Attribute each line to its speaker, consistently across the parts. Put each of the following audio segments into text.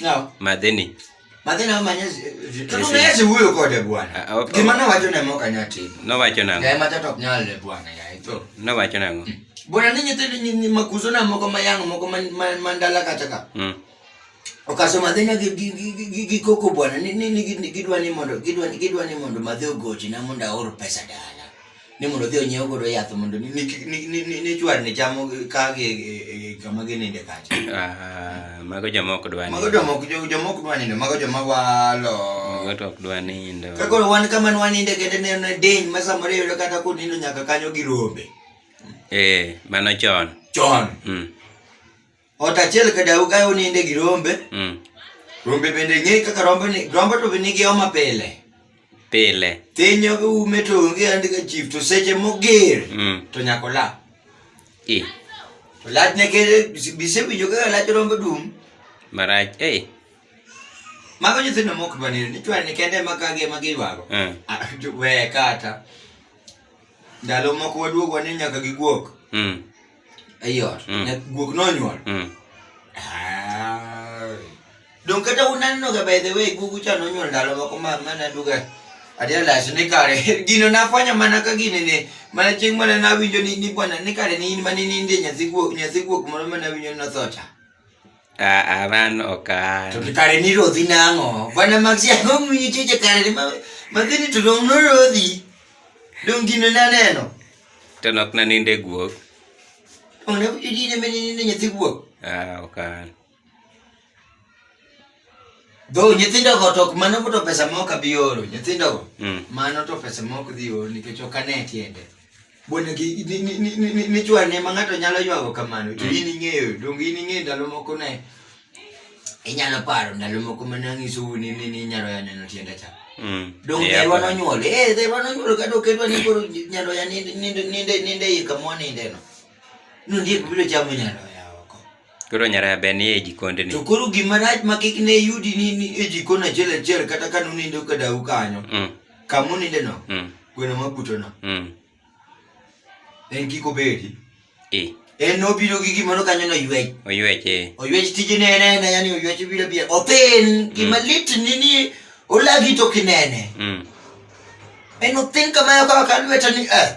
Speaker 1: No. Madhini. Madhini ama nyezi. Tutu nyezi huyo kode bwana. Ah, okay. Kimana wacho na moka nyati. No wacho nango. Kaya matata kunyale bwana ya ito. No wacho nango. Hmm. Bwana ninyi tili ni makuzo na moko mayango moko mandala kataka. Mm. Okaso madhini gikoko bwana. Nini gidwa ni mondo. Gidwa ni mondo madhi ugoji na munda oro pesa dala. ni mondo odhi onyiew godo yath mondo ni- ni- ni- ni- ni- ni chwar ni chamo ka gi e- e- kama gininde kacha Ah, mago joma ok dwa mago nindo. jomok jo- jomok dwa nindo mago joma walo Mago to ok dwa nindo. ka koro wan kama ne waninde kende ne ne diny ma samoro iyudo kata kunindo nyaka kanyo gi rombe Eh, mano chon. chon Mm. Ot achiel ka dau kae oninde gi rombe. Mm. Rombe bende ng'eyo kaka rombe ni rombe to be nigi homa pile. Pile. Piny ok ume to onge andi ka chief to seche moger Mm. to nyaka ola. I. To lach ne kere bise winjo kaka lach rombe dum. Marach. Eh. Mago nyithindo mok bani ni chwar ni kende ma kage ma gidwaro. Mm. Ah, jo- We kata. Ndalo moko waduogo ni nyaka giguok. Mm. ei ot Mm. nya- guok nonyuol Mm. Ai. dong kata unaneno ga by the way gugu cha nonyuol ndalo moko ma mana duga adia las ni kare gino nafwenyo mana ka gini ni mana chieng' mana nawinjo ni ni bwana ni kare ni in mane ninde nyathi guok nyathi guok moro mana winjo ni notho cha Aa, mano ok an. To kare ni rodhi nang'o? Bwana Max yango ng'winyo choche kare ni ma madhini to dong' norodhi. Dong' gino naneno. To nok naninde guok. Dong' ne idine menene nyathi guok. Aa, ok an. Though nyithindo go to mano to pesa ma ok abi oro nyithindo go mm. mano to pesa ma ok dhi oro nikech ok ane tiende bwana gi ni chwa ne ma ng'ato nyalo ywago kamano to mm. in ing'eyo donge in ing'eyo ndalo moko ne inyalo paro ndalo moko ma nanyiso u ni ni nyalo ya neno tiende cha mm. dong yeah, dherwa nonyuol eh dherwa nonyuol ka dok edwa ni koro nyalo ya ninde ninde ninde yika mwa ninde no No ndiye bibiro chamo nyalo Koro nyara be ni e jikon ni. To koro gima rach ma kik ne yudi ni ni e jikon achiel achiel kata ka nunindo ka dau kanyo. Mm. Kamu ninde no. Mm. Gweno ma buto no. Mm. En kiko bedi. E. En no biro gi gimoro kanyo no yuech. Oyuech e. Oyuech tije ne ne na yani oyuech biro bia. Othin mm. gima lit ni ni olagi to kinene. Mm. En othin kama yo kama kalweta ni eh.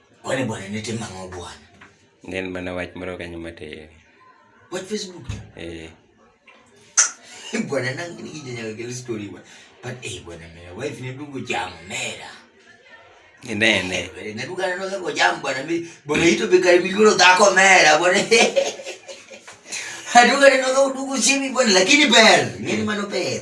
Speaker 1: Kwani bwana nete mang'o bwana? Nen mana wach moro kanyo matin. Wach Facebook? Eh. Bwana nang'ini kijanyaka kelo story bwana. But eh bwana mera wife ne dugo jam mera. Ine ine. Eh, ne dugo aneno kako jam bwana mi bwana ito be kare migolo dhako mera bwana. Adugo aneno kako dugo simi bwana lakini ber. Ng'eni mano ber.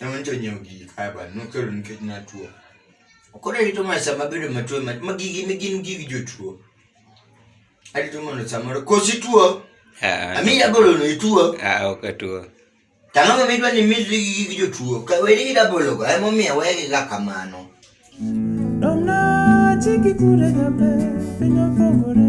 Speaker 1: Ne wanyicha onyiewo gigi kae bana, nokelo nikech natuo. Koro arito mana sama abedo matuo ema- ma gigi ne gin gig jotuo. Arito mondo samoro koso ituo, Ah, ami rabolono ituo. ah, ok atuo. Tang'o ma midwa ni midri gi gig jotuo, ka weri gi rabologo emomiyo wegiga kamano. Domna chiki kure gabe, piny opogore.